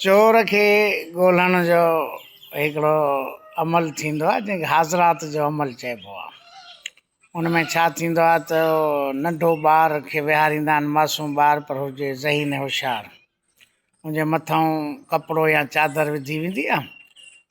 چور کي ڳولڻ جو هڪڙو عمل ٿيندو آهي جنهن کي حاضرات جو عمل چئبو آهي ان ۾ ڇا ٿيندو آهي ته ننڍو ٻار کي ويهاريندا آهن معصوم ٻار پر هجي ذهين هوشيار ان جي مٿان ڪپڙو يا چادر وڌي ويندي آهي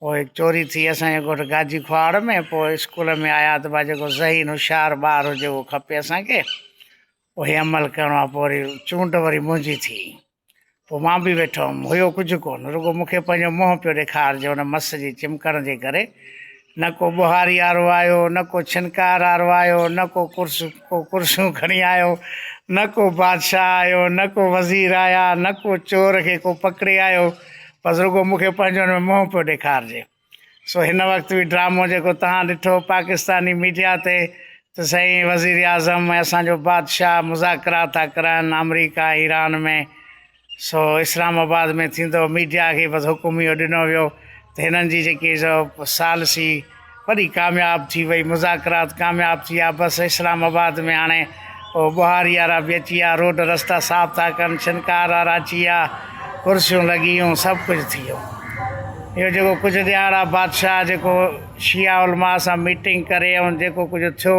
پوء هڪ چوري ٿي اسان جي ڳوٺ گاجي کهاڙ ۾ پوء اسڪول ۾ آيا ته با جيڪو ذهين هوشيار ٻار هجي اهو کپي اسان کي اهي عمل ڪرڻو آهي پوء وري چونڊ وري منهنجي ٿي پوء مان به ويٺو هوم هيو ڪجهه ڪون رڳو مون کي پنهنجو منهن پيو ڏيکارجي ان مس جي چمڪڻ جي ڪري نه ڪو ٻهاري وارو آيو، نه ڪو ڇنڪار وارو آيو، نه ڪو ڪو ڪرسيون کڻي آيو، نه ڪو بادشاهه آيو، نه ڪو وزير آيا، نه ڪو چور کي ڪو پڪڙي آيو، بس رڳو مون کي پنهنجو ان ۾ منهن پيو ڏيکارجي. سو هن وقت به ڊرامو جيڪو توهان ڏٺو پاڪستاني ميڊيا تي ته سائين وزيراعظم ۽ اسان جو بادشاهه مذاڪرات ٿا ڪرائن آمريڪا ۽ ايران ۾، سو اسلام آباد ۾ ٿيندو ميڊيا کي بس حڪم اهو ڏنو ويو ته هنن جي جيڪي سو ثالثي وڏي ڪامياب ٿي وئي مذاڪرات ڪامياب ٿي ويا بس اسلام آباد ۾ هاڻي او بهاري وارا به اچي ويا روڊ رستا صاف ٿا ڪن شنڪار وارا اچي ويا ڪرسيون لڳي ويون سڀ ڪجهه ٿي ويو اهو جيڪو ڪجهه ڏيهاڙا بادشاهه جيڪو شيعا علماء سان ميٽنگ ڪري ۽ جيڪو ڪجهه ٿيو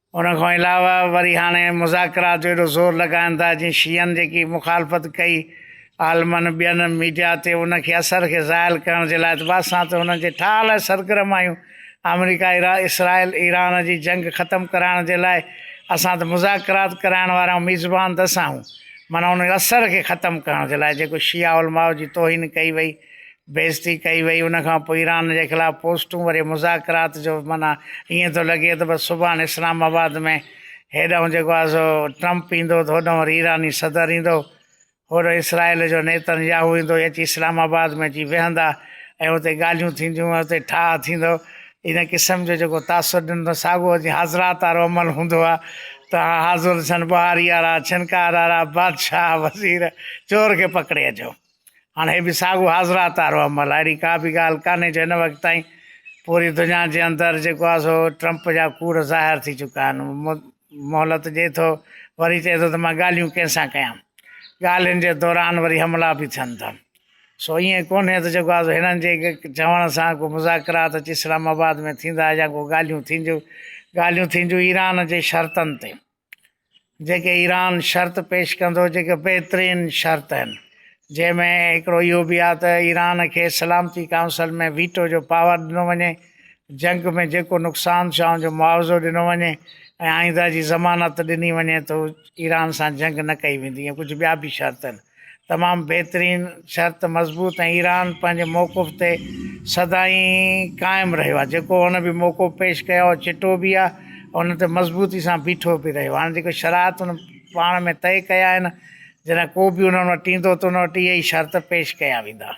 ان کان علاوه وري هاڻي مذاڪرات جو ايڏو زور لڳائن ٿا جيئن شيعن جيڪي مخالفت ڪئي عالمن ٻين ميڊيا تي ان کي اثر کي زائل ڪرڻ جي لاء ته اسان ته انهن جي ٺاهه لاء سرگرم آهيون آمريڪا اسرائيل ايران جي جنگ ختم ڪرائڻ جي لاء اسان ته مذاڪرات ڪرائڻ وارا آهيون ميزبان ته اسان آهيون معنيٰ ان اثر کي ختم ڪرڻ جي لاء جيڪو شيعا علماء جي توهين ڪئي وئي بيعزتي ڪئي وئي ان کان پوء ايران جي خلاف پوسٽون وري مذاڪرات جو معنيٰ ائين ٿو لڳي ته بس سڀاڻ اسلام آباد ۾ هيڏانهن جيڪو آهي سو ٽرمپ ايندو ته هوڏانهن وري ايراني صدر ايندو هوڏو اسرائيل جو نيتن ياهو ايندو اچي اسلام آباد ۾ اچي ويهندا ۽ اتي ڳالهيون ٿينديون اتي ٺاهه ٿيندو ان قسم جو جيڪو تاثر ڏنو ساڳو جي حاضرات وارو عمل هوندو آ ته حاضر ٿين ٻهاري وارا ڇنڪار وارا بادشاهه وزير چور کي پڪڙي اچو هاڻ هي به ساڳو حاضرات وارو عمل آهي. اهڙي ڪا به ڳالهه ڪانهي جو هن وقت تائين پوري دنيا جي اندر جيڪو آهي سو ٽرمپ جا ڪوڙ ظاهر ٿي چڪا آهن. مهلت ڏئي ٿو وري چئي ٿو ته مان ڳالهيون ڪنهن سان ڪيان. ڳالهين جي دوران وري حملا به ٿين ٿا. سو ائين ڪونهي ته جيڪو آهي سو هنن جي چوڻ سان ڪو مذاڪرات اچي اسلام آباد ۾ ٿيندا يا ڪو ڳالهيون ٿينديون. ڳالهيون ٿينديون ايران جي شرطن تي. جيڪي ايران شرط پيش ڪندو جيڪي بهترين شرط آهن جنهن ۾ هڪڙو اهو به آهي ته ايران کي سلامتي ڪائونسل ۾ ويٽو جو پاور ڏنو وڃي جنگ ۾ جيڪو نقصان ٿيو آهي ان جو معاوضو ڏنو وڃي ۽ آئنده جي ضمانت ڏني وڃي ته ايران سان جنگ نه ڪئي ويندي ۽ ڪجهه ٻيا به شرط آهن تمام بهترين شرط مضبوط ۽ ايران پنهنجي موقف تي سدائين قائم رهيو آهي جيڪو هن به موقف پيش ڪيو آهي چٽو به آهي ان تي مضبوطي سان بيٺو به رهيو هاڻي جيڪي شرائط ان پاڻ ۾ طئي ڪيا آهن جڏهن ڪو به انهن وٽ ايندو ته ان وٽ اهي ئي شرط پيش ڪيا ويندا